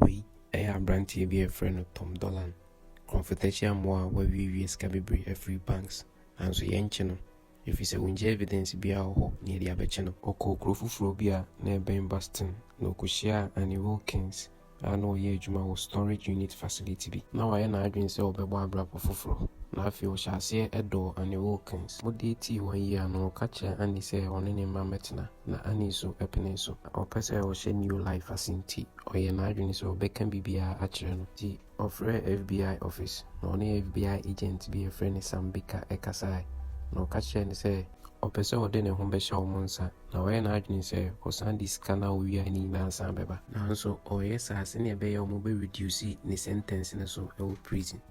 Wei yɛ aberanteɛ bi a yɛfrɛ no Tom Dolan, korɔmfotɛkyia mmoa a wawiewie sika bebree afiri banks nanso yɛnkye no ɛfiri sɛ ɔngya evidence biara wɔ hɔ na yɛde abɛkye no. Ɔkɔɔ kuro foforɔ bi a na ɛbɛn Boston na ɔkɔhyiaa Annie Wilkins a na ɔyɛ adwuma wɔ storage unit facility bi. Na wayɛ n'adwene sɛ ɔbɛbɔ abrabɔ foforɔ na afei ɔhyɛɛ aseɛ dɔɔ Annie Wilkins. Wɔdatii wɔn yie ano no ɔka kyerɛɛ Annie sɛ ɔne ne mma mmɛtena. Na Annie nso penee so. Ná ɔpɛ sɛ ɔhyɛ New Life ase enti ɔyɛɛ n'adwene sɛ ɔbɛka biribiara akyerɛ no. Enti ɔfrɛɛ FBI office, na ɔne FBI agent bi a wɔfrɛ no Sam Baker kasae, na ɔka kyerɛɛ no sɛ, ɔpɛ sɛ ɔde ne ho bɛhyɛ wɔn nsa, na wayɛ n'adwene sɛ ɔsan de sika no a owiae no nyinaa san bɛba. Nanso ɔreyɛ saa sɛnea ɛbɛyɛ a wɔbɛ reduce ne sentence no so wɔ prison.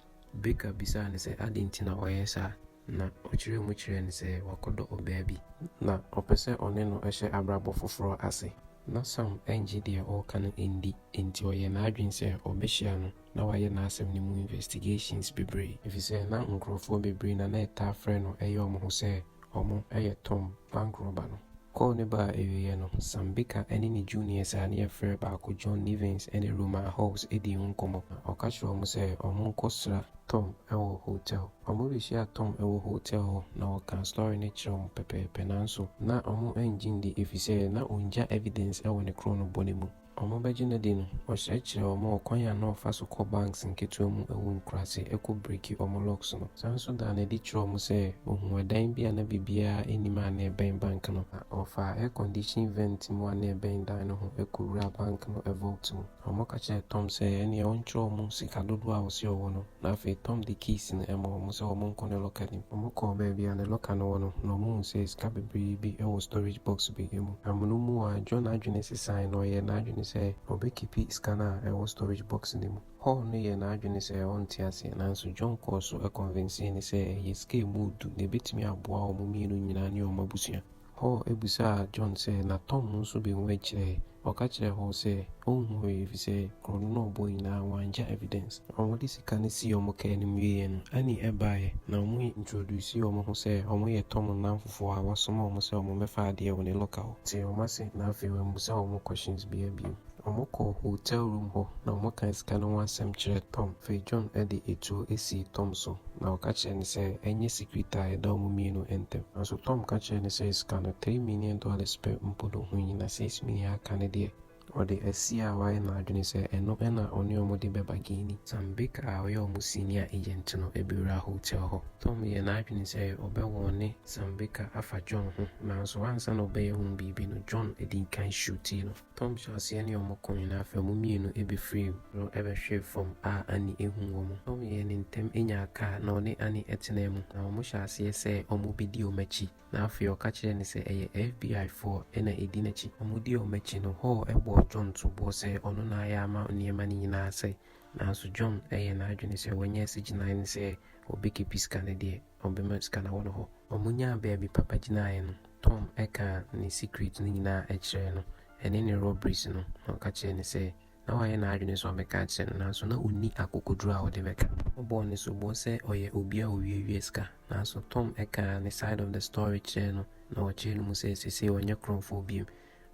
Baker bisaa no sɛ adɛn nti na ɔreyɛ saa. Na ɔkyerɛ mu kyerɛ no sɛ wakɔdɔ ɔbaa bi. Na ɔpɛ sɛ ɔne no hyɛ abrabɔ foforɔ ase. Na Sam nnye deɛ ɔreka no nndi, enti ɔyɛɛ n'adwene sɛ ɔbɛhyia no na wayɛ n'asɛm no mu investigations bebree. Efisɛ na nkurɔfoɔ bebree na na ɛtaa frɛ no yɛ wɔn ho sɛ wɔn yɛ Tom, bank robber no. Call no baa awieɛ no, Sam Baker ne ne juniors a ne yɛfrɛ baako John Nivens ne Roman Hawes dii ho nkɔmmɔ. Na ɔka kyerɛɛ wɔn sɛ wɔnkɔ sra Tom wɔ hotel. Wɔbehyiaa Tom wɔ hotɛl hɔ na wɔkaa story no kyerɛɛ wɔn pɛpɛɛpɛ nanso na wɔannye ndi efisɛ na ɔngya evidence wɔ ne kron no bɔne mu. Wɔbɛgye no adi no, ɔkyerɛkyerɛɛ wɔn ɔkwan a na ɔfa so kɔ banks nketewa mu wɔ nkuraase kɔ breaki wɔn locks no. Ɔsan nso daa no adi kyerɛɛ wɔn sɛ ɔhuu ɛdan bi a na biribiara nnim a na ɛbɛn bank no na ɔfaa air condition vent mu a na ɛbɛn dan no ho kɔwuraa bank no vault mu. Wɔka kyerɛɛ Tom sɛ ɛnneɛ ɔnkyerɛ wɔn sika dodoɔ a ɔse ɔwɔ no, na afei Tom de keys no maa wɔn sɛ wɔnkɔ ne locker no mu. Wɔkɔɔ baabi a ne locker no wɔ no, na wɔhuu sɛ sika bebree bi wɔ storage box bi mu. Amonom mu ara, John adwene sesaeɛ na ɔyɛɛ n'adwene sɛ ɔbɛkipi sika no a ɛwɔ storage box no mu. Paul no yɛɛ n'adwene sɛ ɔnte aseɛ, nanso John kɔɔ so kɔnvensee no sɛ ɛyɛ sika a ɛmu yɛ du na ɛbɛtumi aboa wɔn mmienu nyinaa ne wɔn abusua. Paul bisaa John sɛ, Na Tom nso behu akyire? Ɔka kyerɛɛ hɔn sɛ, Onnhu hwee, efisɛ kuro no na ɔbɔɔ nyinaa, wɔanngya evidence. Wɔde sika no sii wɔn kaa no mu wieeɛ no, Annie baeɛ, na wɔn introducee wɔn ho sɛ wɔn yɛ Tom nnamfofoɔ a wɔasoma wɔn sɛ wɔmmɛfa adeɛ wɔ ne locker hɔ. Tee wɔn ase, na afei wammusa wɔn questions biara bio. Wɔkɔɔ hotel room hɔ na wɔkaa sika no ho asɛm kyerɛɛ Tom. Afei John de atuo sii Tom so na ɔka kyerɛɛ no sɛ ɛnyɛ secret a ɛda wɔn mmienu ntam. Nanso Tom ka kyerɛɛ no sɛ sika no, three million dollars pɛ mpo na ɔhu yi, na six million a aka no deɛ, ɔde asi a wayɛ n'adwene sɛ ɛno na ɔne wɔn de bɛba Guinea. Sam Baker a ɔyɛ wɔn senior agent no bɛwuraa hotel hɔ. Tom yɛɛ n'adwene sɛ ɔbɛwɔɔne Sam Baker afa John ho, nanso ansa na ɔbɛyɛ ho biribi no, John dii kan shootee no. Tom hyɛ aseɛ ne wɔn ko nyinaa firi wɔn mmienu bɛfirii no bɛhwee fam a Annie ahunu wɔn. Tom yɛɛ ne ntɛm nyaa kaa na ɔne Annie tenaa mu na wɔn hyɛɛ aseɛ sɛ wɔbɛdi wɔn akyi na afei ɔka kyerɛɛ no sɛ ɛyɛ FBI foɔ na ɛdi n'akyi. Wɔn dii wɔn akyi no Hall bɔɔ John soboɔ sɛ ɔno na ayɛ ama nneɛma no nyinaa asɛe nanso John yɛɛ n'adwene sɛ wanya asi gyinaeɛ no sɛ ɔbɛkepi sika no deɛ. Ɔbɛma sika no awɔ no hɔ. Wɔnyaa baabi papa gyinaeɛ no, Tom kaa ne secret no nyinaa kyerɛɛ no, ɛne ne robberies no, na ɔka kyerɛɛ no sɛ na wayɛ n'adwene sɛ ɔbɛka akyerɛ no, nanso na ɔnni akokoduro a ɔde bɛka. Ɔbɔɔ no soboɔ sɛ ɔyɛ obi a ɔwiawia sika, nanso Tom kaa ne side of the story kyerɛɛ no, na ɔkyerɛɛ no mu sɛ seesei ɔnyɛ korɔmfoɔ biom.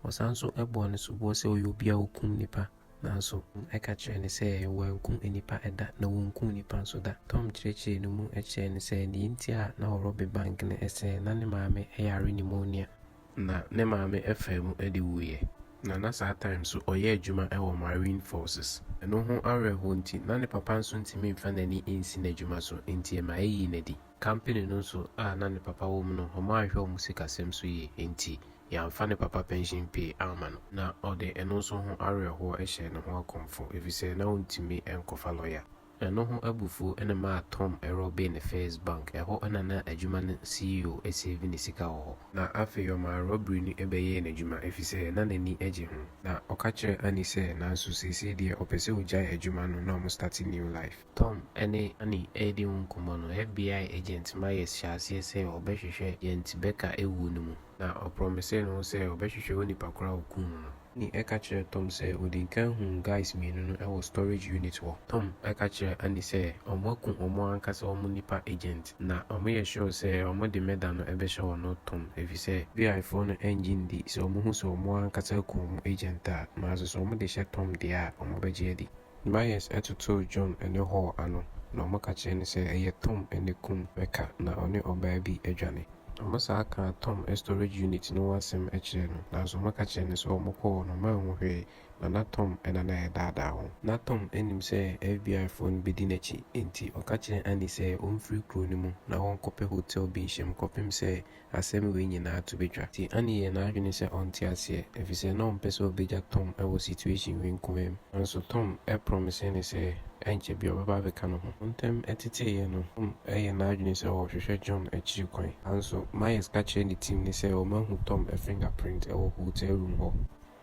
Ɔsan nso bɔɔ no soboɔ sɛ ɔyɛ obi a ɔkum nnipa. Nanso, ɛka kyerɛɛ no sɛ wɔankum nnipa da, na wonkum nnipa nso da. Tom kyerɛkyerɛɛ no mu kyerɛɛ no sɛ nea enti a na ɔrobbe bank no sɛ na ne maame yare pneumonia, na ne maame faa mu de wuiɛ, na na saa time so ɔyɛ adwuma wɔ Marine Forces, ɛno ho awerɛhoɔ nti, na ne papa nso ntumi mfa n'ani nsi n'adwuma so, enti ɛma ɛyii no adi. Kampene no nso a na ne papa wɔ mu no, wɔanhwɛ wɔn sikasɛm so yie, enti Yɛamfa ne papa pɛnhyen pii amma no. Ná ɔde ɛno nso ho awerɛhoɔ hyɛ ne ho akɔmfo, ɛfiri sɛ na ɔntumi nkɔfa lɔya. Ɛno ho abufuo na ɛmaa Tom rɔbee ne First Bank, ɛhɔ na na adwuma no CEO seevi ne sika wɔ hɔ. Na afei ɔmaa rɔberi no bɛyɛɛ n'adwuma, ɛfiri sɛ na n'ani gye ho. Na ɔka kyerɛɛ Annie sɛ, Nanso seesei deɛ ɔpɛ sɛ ɔgyae adwuma no na wɔstate new life. Tom ne Annie redi ho nkɔmmɔ no, FBI agent Myers hyɛɛ aseɛ sɛ ɔbɛhwehwɛ Jent Becker wuo no mu. na ɔprɔmisee ne ho sɛ ɔbɛhwehwɛ onipa koro a okum no no. Annie ka kyerɛɛ Tom sɛ odii kan huu guys mmienu no wɔ storage unit hɔ. Tom ka kyerɛɛ Annie sɛ wɔaku wɔn ankasa wɔn nnipa agent, na wɔyɛ sure sɛ wɔde murder no bɛhyɛ ɔno, Tom, efisɛ FBI foɔ no nnye nndi sɛ wɔhu sɛ wɔn ankasa aku wɔn agent a, nanso sɛ wɔde hyɛ Tom deɛ a, wɔbɛgye adi. Myers totoo John ne Hall ano, na wɔka kyerɛɛ no sɛ ɛyɛ Tom na kum Becca na ɔne ɔbaa bi adwane. Wɔsan kaa Tom storage unit no ho asɛm kyerɛɛ no, nanso wɔka kyerɛɛ no sɛ wɔkɔɔ hɔ no wɔanhu hwee, na na Tom na na ɛredaadaa wɔn. Ná Tom nim sɛ FBIfoɔ no bɛdi n'akyi, enti ɔka kyerɛɛ Annie sɛ ɔmfiri kuro no mu na wɔnkɔpɛ hotɛl bi nhyem kɔpem sɛ asɛm wei nyinaa to bɛtwa. Nti Annie yɛɛ n'adwene sɛ ɔnte aseɛ efisɛ na ɔmpɛ sɛ ɔbɛgya Tom wɔ situation wei nkoaa mu. Nanso Tom promisee no sɛ ɛnkyɛ biaa ɔbɛba abɛka ne ho. Ntɛm teteeɛ no, Tom yɛɛ n'adwene sɛ ɔrehwehwɛ John akyiri kwan. Nanso Myers ka kyerɛɛ ne team no sɛ wɔahu Tom finger print wɔ hotel room hɔ.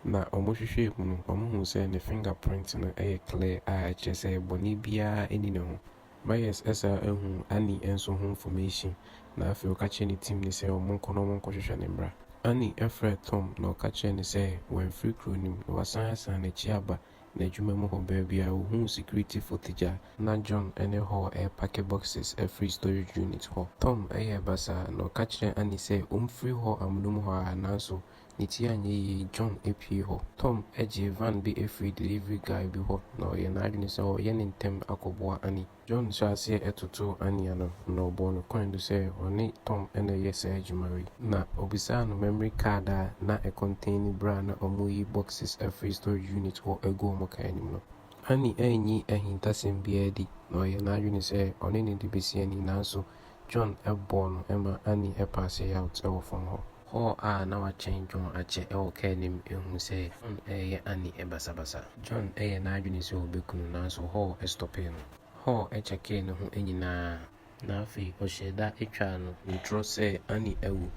Na wɔhwehwɛɛ mu no, wɔhuu sɛ ne finger print no yɛ clear a ɛkyerɛ sɛ bɔne biaa nni ne ho. Myers san huu Annie nso ho nfɔmehyin, na afei ɔka kyerɛɛ ne tim no sɛ wɔnkɔ na wɔnkɔhwehwɛ no mmra. Annie frɛɛ Tom na ɔka kyerɛɛ no sɛ wamfiri kuro no mu na wasan asan n'akyi aba n'adwuma mu hɔ. Baabi a ɔhuu sikiritifo te gya a na John ne Hall repake boxes afiri storage unit hɔ. Tom yɛɛ basaa na ɔka kyerɛɛ Annie sɛ ɔmfiri hɔ amonom hɔ ara, nanso Ne ti anyɛ yie, John pue hɔ. Tom gyee van bi firii delivery guy bi hɔ na ɔyɛɛ n'adwene sɛ ɔreyɛ no ntɛm akɔboa Annie. John hyɛɛ aseɛ totoo Annie ano na ɔbɔɔ no kɔn do sɛ ɔne Tom na ɛreyɛ saa adwuma wei. Na ɔbisaa no memory card a na ɛkɔntaini berɛ a na wɔreyi boxes afiri storage unit hɔ agu wɔn car anim no. Annie anyi ahintasɛm biara adi na ɔyɛɛ n'adwene sɛ ɔne no de bɛsi Annie nanso John bɔɔ no ma Annie paasee out wɔ fam hɔ. Hall a na wakyɛn John akyɛ wɔ kaa no mu hu sɛ John reyɛ Annie basabasa. John yɛɛ n'adwene sɛ obeku no nanso Hall stɔpee no. Hall kyɛkee ne ho nyinaa. Na afei ɔhyɛɛ da twaa no ntorɔ sɛ Annie awu.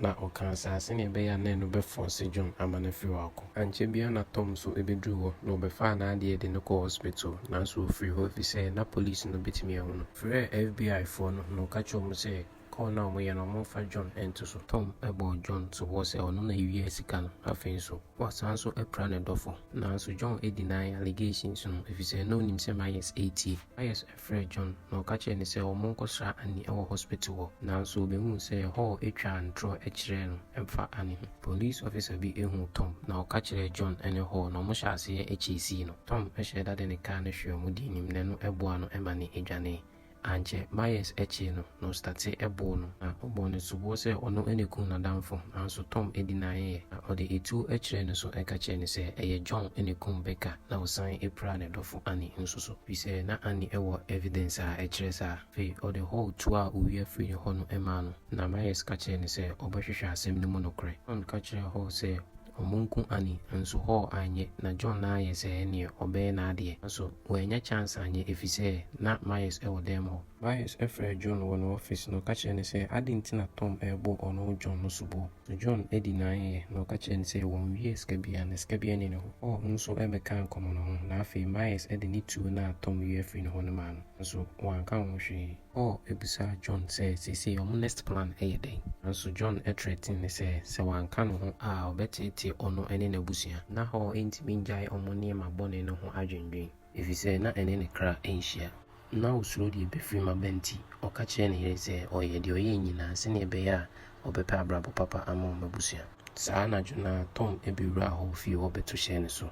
Na ɔkaa saa sɛnea ɛbɛyɛ a na ɛno bɛfɔɔse John ama no afiri hɔ akɔ. Ankyɛ biara na Tom nso bɛduruu hɔ, na ɔbɛfaa n'adeɛ de no kɔɔ hospital, nanso ɔfirii hɔ efisɛ na polisi no bɛtumi ahu no. Frɛɛ FBI foɔ no, na ɔka kyerɛɛ wɔn sɛ call no a wɔyɛ no wɔmfa John nto so. Tom bɔɔ John soboɔ sɛ ɔno na ɛwiaa sika no, afei nso wasan nso apira ne dɔfo. Nanso John deny allegations no efisɛ na ɔnim sɛ Myers retie. Myers frɛɛ John na ɔka kyerɛɛ no sɛ wɔnkɔsra Annie wɔ hospital hɔ, nanso obehuu sɛ Hall twaa ntorɔ kyerɛɛ no ɛmfa Annie ho. Police officer bi huu Tom na ɔka kyerɛɛ John ne Hall na wɔhyɛɛ aseɛ kyeesii no. Tom hyɛɛ da de ne car no hwee wɔn de anim na ɛno boaa no ma ne dwanee. Ankyɛ, Myers kyee no na ɔstate boo no na ɔbɔɔ no soboɔ sɛ ɔno na ɛkum n'adamfo, nanso Tom dinaeɛ na ɔde atuo kyerɛɛ no so ka kyerɛɛ no sɛ ɛyɛ John na ɛkum Becca. na ɔsan piraa ne dɔfo Annie nso so. Efisɛ na Annie wɔ evidence a ɛkyerɛ saa. Afei ɔde Hall tuo a owia firi ne hɔ no maa no, na Myers ka kyerɛɛ no sɛ ɔbɛhwehwɛ asɛm no mu nokorɛ. John ka kyerɛɛ Hall sɛ wɔnku Annie, nanso Hall anyɛ. Ná John nan ayɛ sɛ ɛnneɛ ɔbɛyɛ n'adeɛ, nanso wannya chance anyɛ efisɛ na Myers wɔ dan mu hɔ. Myers frɛɛ John wɔ ne office na ɔka kyerɛɛ no sɛ adɛn nti na Tom rebɔ ɔno John no soboɔ. John di n'ayeɛ, na ɔka kyerɛɛ no sɛ wɔnwie sika biara, na sika biara nni ne hɔ. Ɔɔ no nso bɛkaa nkɔmmɔ no ho, na afei Myers de ne tuo no a Tom wia firii ne hɔ no maa no, nanso wanka ho hwee. Ɔɔ bisaa John sɛ seesei wɔn next plan yɛ dɛn, nanso John threatened no sɛ, sɛ wanka ne ho a ɔbɛteetee ɔno ne n'abusua. Ná Ɔɔ ntumi nnyae wɔn nneɛma bɔne no ho adwendwen. efisɛ na ɛne ne kra nhyia. Ná osuro deɛ ɛbɛfirim aba nti, ɔka kyerɛɛ ne yere sɛ ɔyɛ deɛ ɔyɛe nyinaa sɛnea ɛbɛyɛ a ɔbɛpɛ abrabɔ papa ama wɔn abusua. Saa anadwo no ara, Tom bɛwuraa Hall fie hɔ bɛto hyɛɛ ne so.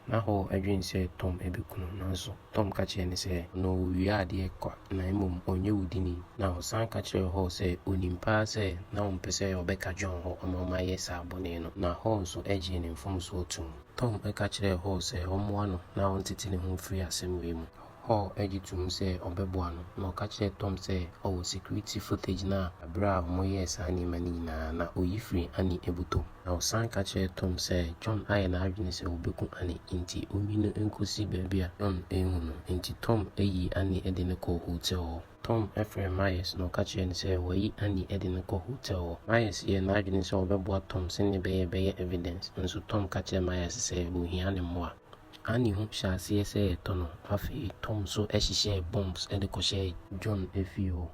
Ná Hall dwen sɛ Tom bɛku no, nanso Tom ka kyerɛɛ no sɛ, ɔno ɔwia adeɛ kwa na mmom ɔnyɛ wudini, na ɔsan ka kyerɛɛ Hall sɛ ɔnim paa sɛ na ɔmpɛ sɛ ɔbɛka John hɔ ma ɔma yɛ saa bɔne no, na Hall nso gyee ne mfomsoɔ toom. Tom ka kyerɛɛ Hall sɛ ɔmmoa no na ɔntete ne ho mfiri asɛm wei mu. Hall gye toom sɛ ɔbɛboa no, na ɔka kyerɛɛ Tom sɛ ɔwɔ security footage no a bere a wɔyɛɛ saa nneɛma no nyinaa na oyi firii Annie abutom. Na ɔsan ka kyerɛɛ Tom sɛ John ayɛ n'adwene sɛ obeku Annie, enti onyi no nkosi baabi a John renhu no. Enti Tom yii Annie de no kɔɔ hotel hɔ. Tom frɛɛ Myers na ɔka kyerɛɛ no sɛ wɔayi Andy de no kɔ hotɛl hɔ. Myers yɛɛ n'adwene sɛ ɔbɛboa Tom sɛnea ɛbɛyɛ a ɛbɛyɛ evidence, nanso Tom ka kyerɛɛ Myers sɛ ohia ne mmoa. Andy ho hyɛɛ aseɛ sɛ ɛretɔ no. Afei Tom nso hyehyɛɛ bombs de kɔhyɛɛ John fie hɔ.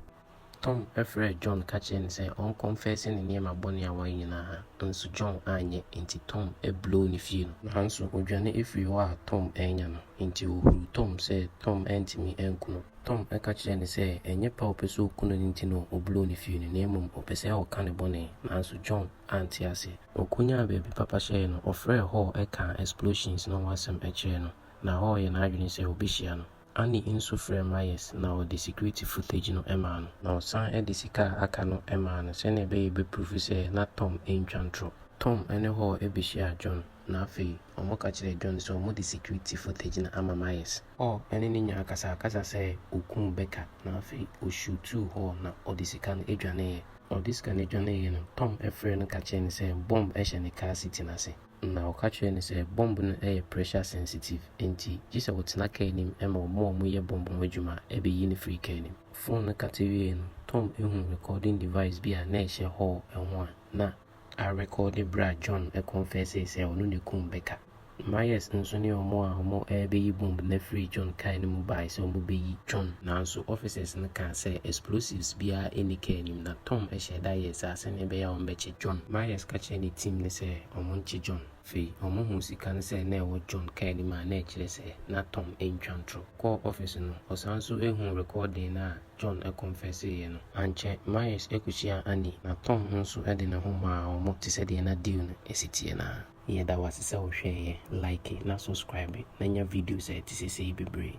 Tom frɛɛ John ka kyerɛɛ no sɛ ɔnkɔnfɛse ne nneɛma bɔne a wayɛ nyinaa, nanso John anyɛ, enti Tom blow ne fie no. Nanso odwane firii hɔ a Tom annya no, enti ohuruu Tom sɛ Tom antumi anku no. Tom ka kyerɛɛ no sɛ ɛnyɛ pɛ a ɔpɛ sɛ ɔku no no nti na ɔbloo no fii no, na mmom ɔpɛ sɛ ɔka ne bɔne. Nanso John ante aseɛ. Ɔkɔnyaa baabi papa hyɛeɛ no, ɔfrɛɛ Hall kaa Explosions no ho asɛm kyerɛɛ no, na Hall yɛɛ n'adwene sɛ ɔbɛhyia no. Annie nso frɛɛ Myers na ɔde security footage no maa no. Na ɔsan de sika a aka no maa no sɛdeɛ ɛbɛyɛ a ɔbɛpruufu sɛ na Tom ntwa ntorɔ. Tom ne Hall bɛhyiaa John, na afei wɔka kyerɛɛ John sɛ wɔde security footage no ama Myers. Ɔ ne ne nyaa kasaakasa sɛ okuu Becca na afei osutuu hɔ na ɔde sika no dwaneeɛ. Ɔde sika no dwaneeɛ no, Tom frɛɛ no ka kyerɛɛ no sɛ bɔmb hyɛ ne kaa siti no ase. Na ɔka kyerɛɛ no sɛ bɔmb no yɛ pressure sensitive enti gye sɛ ɔtena kaa anim ma wɔn a wɔyɛ bɔmb ho adwuma bɛyi no firi kaa no mu. Fon no kate wieeɛ no, Tom huu recording device bi a na ɛhyɛ hɔɔ ho a na. a rekɔɔde berɛ a John kɔnfɛsee sɛ ɔno na ɛkum Baker. Myers nso ne wɔn a wɔrebɛyi bɔmb no afiri John kaa no mu baeɛ sɛ wɔbɛyi John. Nanso officers no kaa sɛ explosives biara nni kaa no mu na Tom hyɛɛ da yɛɛ saa sɛdeɛ ɛbɛyɛ a wɔbɛkye John. Myers ka kyerɛɛ ne team no sɛ wɔnkye John. Afei wɔhuu sika no sɛ na ɛwɔ John kaa no mu a na ɛkyerɛ sɛ na Tom ntwa ntorɔ. Ɔkɔɔ office no, ɔsan nso huu rekɔɔdee no a John kɔnfɛseeɛ no. Ankyɛ, Myers kɔhyiaa Annie, na Tom nso de ne ho maa wɔn te sɛ deɛ na deal no si teɛ no ara. Yɛda wo ase sɛ wo hwɛeɛ, like na subscribe na nya videos a ɛte sɛ sei bebree.